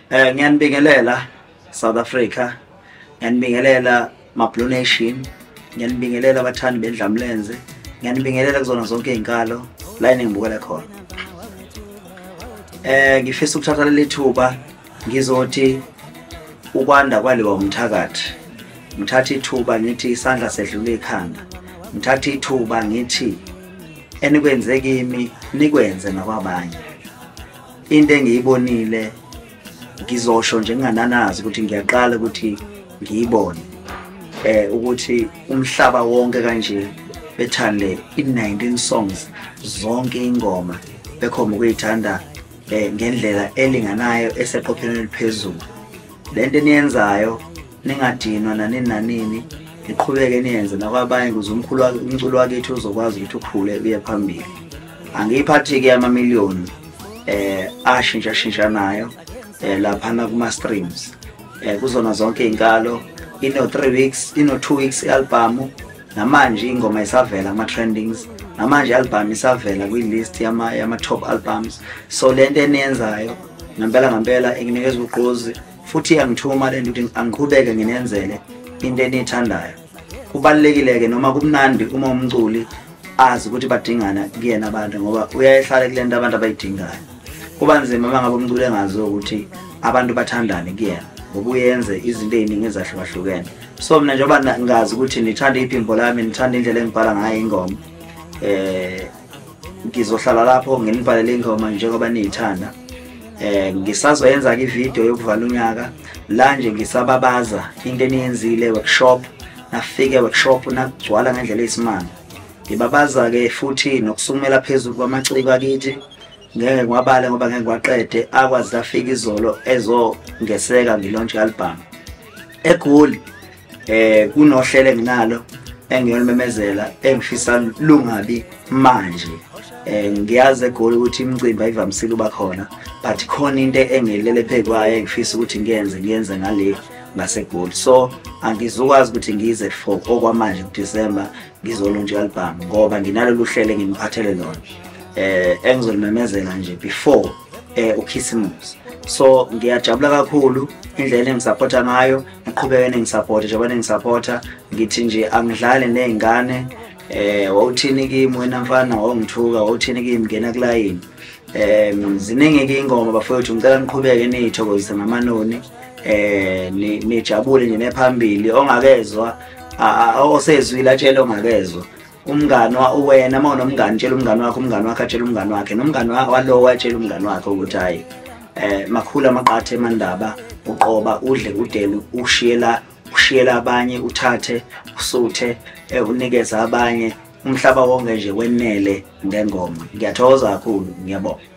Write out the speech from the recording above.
Eh ngiyanibingelela South Africa. Ngiyanibingelela Mablu Nation. Ngiyanibingelela abathandi bendlamlenze. Ngiyanibingelela kuzona zonke izinkalo la eningibukele khona. Eh ngifisa ukuthatha leli thuba ngizothi ukwanda kwaliwa umthakathi. Ngithatha ithuba ngithi isandla sedlula ikhanda. Ngithatha ithuba ngithi enikwenze kimi nikwenze nakwabanye. into engiyibonile ngizosho nje ngingananazi ukuthi ngiyaqala ukuthi ngiyibone eh ukuthi umhlaba wonke kanje bethande i-19 songs zonke ingoma bekhomba ukuyithanda eh ngendlela elinganayo eseqophelweni eliphezulu lento eniyenzayo ningadinwa nanini nanini niqhubeke niyenze nakwabanye ukuze umkhulu umculo wakethu uzokwazi ukuthi ukhule uye phambili angiyiphathi-ke amamiliyoni eh ashintsha shintsha nayo eh laphana kuma streams eh kuzona zonke inkalo ino 3 weeks ino 2 weeks album namanje ingoma isavela ama trendings namanje album isavela kwi list yama yama top albums so lento eniyenzayo ngempela ngempela inginikeza ugqozi futhi angithuma lento ukuthi angiqhubeke nginenzele into enithandayo kubalulekile-ke noma kumnandi uma umculi azi ukuthi badingana kuyena abantu ngoba uyayehlala kule nto abantu abayidingayo kuba nzima uma ngabe umculi engazi ukuthi abantu bathandane kuyena ngoba uyenze izinto ey'ningi ezahlukahlukene so mna njengoba ngazi ukuthi nithanda iphimbo lami nithanda indlela engibhala ngayo ingoma um ngizohlala lapho nginibhalele ingoma njengoba niyithanda eh ngisazoyenza ke video yokuvala unyaka la nje ngisababaza into eniyenzile workshop nafike workshop nakugcwala ngendlela eyisimanga ngibabaza ke futhi nokusumela phezulu kwamaciko akithi ngeke ngiwabale ngoba ngeke ngiwaqede akwazi afika izolo ezongeseka ngilontshe album egoli eh kunohlelo enginalo engiyolumemezela engishisa lungabi manje eh ngiyazi egoli ukuthi imicimbi ayivamisile uba khona but khona into engilele phekwayo engifisa ukuthi ngiyenze ngiyenze ngale ngasegoli so angizukwazi ukuthi ngize for okwamanje kuDecember ngizolunja album ngoba nginalolu hlelo engimkhathele lona eh engizolumemezela nje before eh ukhisimusi so ngiyajabula kakhulu indlela engisupporta ngayo ngiqhubeke nengisapota njengoba nengisapota ngithi nje angidlale ney'ngane eh wawuthini kimi wena mfana wawungithuka wawuthini kimi ngena kulayini um ziningi-ke iy'ngoma bafowethu ngicela niqhubeke niyithokozise ngamanoni um nijabule nje nephambili ongakezwa osezwile atshele ongakezwa umngani wena uma unomngani tshela umngani wakho umngani wakho atshela umngani wakhe nomngani walowo atshela umngani wakhe ukuthi hhayi um makhulu amaqatha emandaba uqoba udle udele ushiyela ushiyela abanye uthathe usuthe eh, unikeze abanye umhlaba wonke nje wenele ngengoma ngiyathokoza kakhulu ngiyabonga